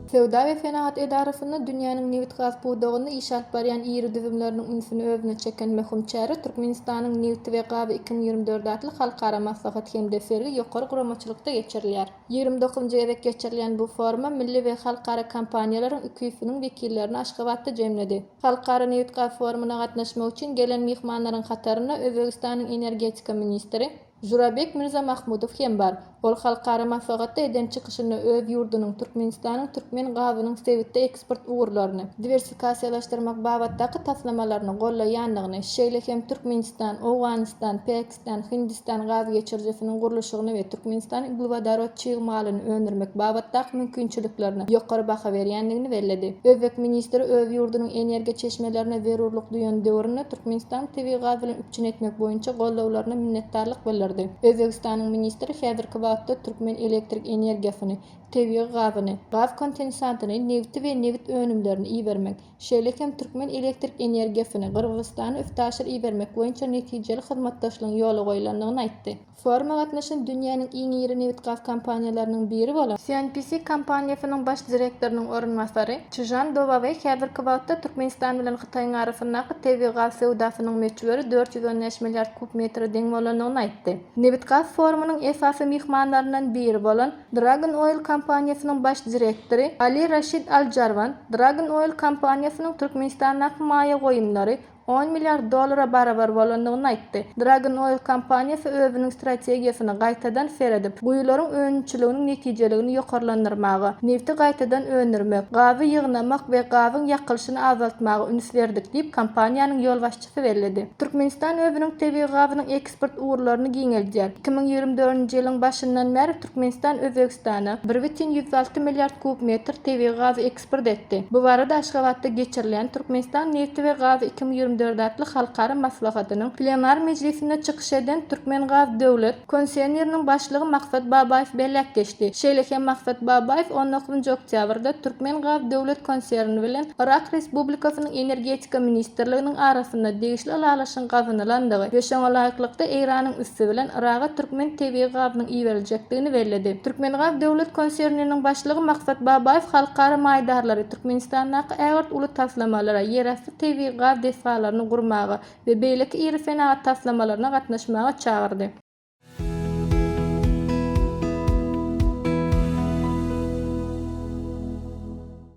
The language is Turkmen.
Söwda we senagat edarasynda dünýäniň nebitgaz pudagynda iş alyp barýan iri düzümleriniň ünsüni özüne çeken möhüm çäre Türkmenistanyň nebiti we gazy iki müň ýigrimi dört atly halkara maslahat hem-de sergi ýokary guramaçylykda geçirilýär. Ýigrimi dokuzynjy gezek geçirilýän bu foruma milli we halkara kompaniýalaryň iki ýüz siniň wekillerini Aşgabatda jemledi. Halkara nebit-gaz forumyna gatnaşmak üçin gelen myhmanlaryň hatarynda Özbegistanyň energetika ministri Žurabek Mirzamahmudow hem bar. Ol halkara maslahatda eden çykyşynda öz ýurdunyň, Türkmenistanyň türkmen gazynyň sebitde eksport ugurlaryny diwersikasiýalaşdyrmak babatdaky taslamalaryny gollaýandygyny, şeýle hem Türkmenistan, Owganystan, Pakistan Hindistan gaz geçirijisiniň gurluşygyny we Türkmenistanyň uglewodorod çig malyny öndürmek babatdaky mümkinçiliklerine ýokary baha berýändigini belledi. Özbek ministri öz ýurdunyň energiýa çeşmelerine zerurlyk duýan döwründe Türkmenistany tebigy gaz bilen üpjün etmek boýunça goldawlaryna minnetdarlyk bildirdi. Özbegistanyň ministri häzirki wagtda türkmen elektrik energiýasyny, tebigy gazyny, gaz kontensatyny, nebiti we nebit önümlerini ibermek, şeýle hem türkmen elektrik energiýasyny Gyrgyzystana üstaşyr ibermek boýunça netijeli hyzmatdaşlygyň ýola goýlandygyny aýtdy. Foruma gatnaşan dünýäniň iň iri nebitgaz kompaniýalarynyň biri bolan CNPC kompaniýasynyň baş direktorynyň orunbasary Çžan Dowaweý häzirki wagtda Türkmenistan bilen Hytaýyň arasyndaky tebigy gaz söwdasynyň möçberi dört ýüz on bäş milliard kub metre deň bolandygyny aýtdy. Nebitgaz forumynyň esasy myhmanlaryndan biri bolan Dragon Oil kompaniýasynyň baş direktory Ali Rashid Al Jarwan Dragon Oil kompaniýasynyň Türkmenistandaky maýa goýumlary on milliard dollara barabar bolandygyny aýtdy. Dragon Oil kompaniýasy özüniň strategiýasyny gaýtadan seredip, guýularyň önümçiliginiň netijeligini ýokarlandyrmaga, nebti gaýtadan öndürmek, gazy ýygnamak we gazyň ýakylyşyny azaltmaga üns berdik diýip, kompaniýanyň ýolbaşçysy tutgusy belledi. Türkmenistan özüniň tebigy gazynyň eksport ugurlaryny giňeldýär. Iki müň ýigrimi dördünji ýylyň başyndan bäri Türkmenistan Özbegistana bir bütin ýüz alty milliard kub metr tebigy gazy eksport etdi. Bu barada Aşgabatda geçirilýän Türkmenistan nebti we gazy iki müň ýigrimi dört atly halkara maslahatynyň plenar mejlisinde çykyş eden Türkmengaz döwlet Konseýnyrnyň başlygy Maksat Babaýew belläp geçdi. Şeýle hem Maksat Babaýew on dokuzynjy oktýabrda Türkmengaz döwlet konserni bilen Yrak Respublikasynyň Energetika ministrliginiň arasynda degişli ylalaşygyň gazanylandygy we şoňa laýyklykda Eýranyň üsti bilen Yraga türkmen tebigy gazynyň iberiljekdigini belledi. Türkmengaz döwlet konserniniň başlygy Maksat Babaýew halkara maýdarlary Türkmenistandaky ägirt uly taslamalara, ýerasty tebigy gaz desgalaryny gurmaga, we beýleki iri senagat taslamalaryna gatnaşmaga çagyrdy.